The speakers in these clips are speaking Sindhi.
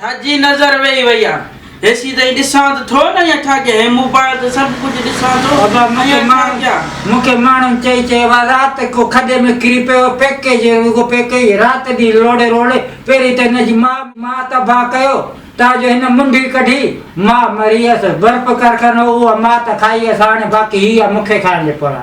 ڇا جي نظر ويئي وئي آ هيسي تائين ڏسان ته ٿو نه يا ڇا ڪيان هي مون پايو ته سڀ ڪجهه ڏسان ٿو ابا مون کي ماڻهن مون کي ماڻهن چئي چئي اها رات ڪو کڏي ۾ ڪري پيو پيڪي جي رڳو پيڪي ئي رات ڏينهن لوڙي روڙي پهرين ته هن جي ماء ماء تباء ڪيو تان جو هن منڍي ڪڍي ماء مري هيس برپ ڪرخانو اها ماء ته کائي هيس هاڻي باقي هي آ مون کي کائڻ ڏي پورا.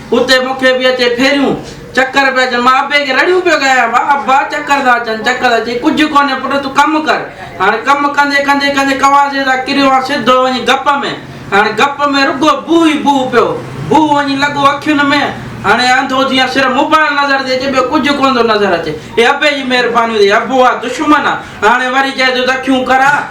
اتي مون کي به اچي ڦيريون چڪر پيا اچن مان ابي کي رڙيون پيو ڳايان ڀا ابا چڪر ٿا اچن چڪر ٿا چئي ڪجهه ڪونهي پٽ تون ڪم ڪر هاڻي ڪم ڪندي ڪندي ڪندي ڪواسي تان ڪريو آ سڌو وڃي گپ ۾ هاڻي گپ ۾ رڳو بوء ئي بوء پيو بوء وڃي لڳو اکين ۾ هاڻي انڌو ٿي آ صرف موبائل نظر ٿي اچي ٻيو ڪجهه ڪونه ٿو نظر اچي هي ابي جي مهرباني ٿي ابو آ دشمن آ هاڻي وري چئي ٿو ته اکيون ڪر آ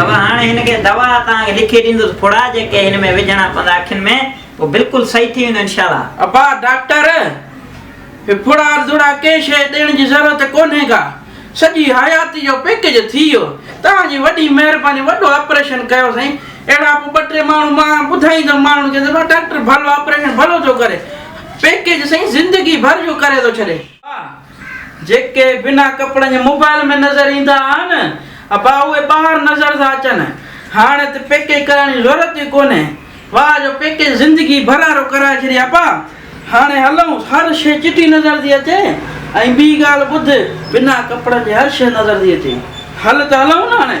اوهان هاڻي هن کي دوا تان لکي ڏيندس ڦڙا جيڪي هن ۾ وجهڻا پوندا اکين ۾ هو بلڪل صحيح ٿي ويندو انشاءالله. ابا ڊاڪٽر هي ڦڙا ارزوڙا ڪنهن شيء ڏيڻ جي ضرورت ڪونهي ڪا سڄي حياتي جو پيڪج ٿي ويو توهان جي وڏي مهرباني وڏو آپريشن ڪيو سائين اهڙا پوء ٻه ٽي ماڻهو مان ٻڌائيندم ماڻهن کي ته ڀا ڊاڪٽر ڀلو آپريشن ڀلو ٿو ڪري پيڪج سائين زندگي ڀر جو ڪري ٿو ڇڏي. جيڪي بنا ڪپڙن جي موبائيل ۾ نظر ايندا آھن ابا اھي ٻاھر نظر ٿا اچن ھاڻي ته پيڪيج ڪرائڻ جي ضرورت ئي ڪونھي واه جو پيڪيج زندگي ڀر آرو ڪرائي ڇڏي ابا ھاڻي ھلئون ھر شيء چٽي نظر ٿي اچي ۽ ٻي ڳالھ ٻڌ بنا ڪپڙن جي ھر شيء نظر ٿي اچي ھل ته ھلئون نه ھاڻي.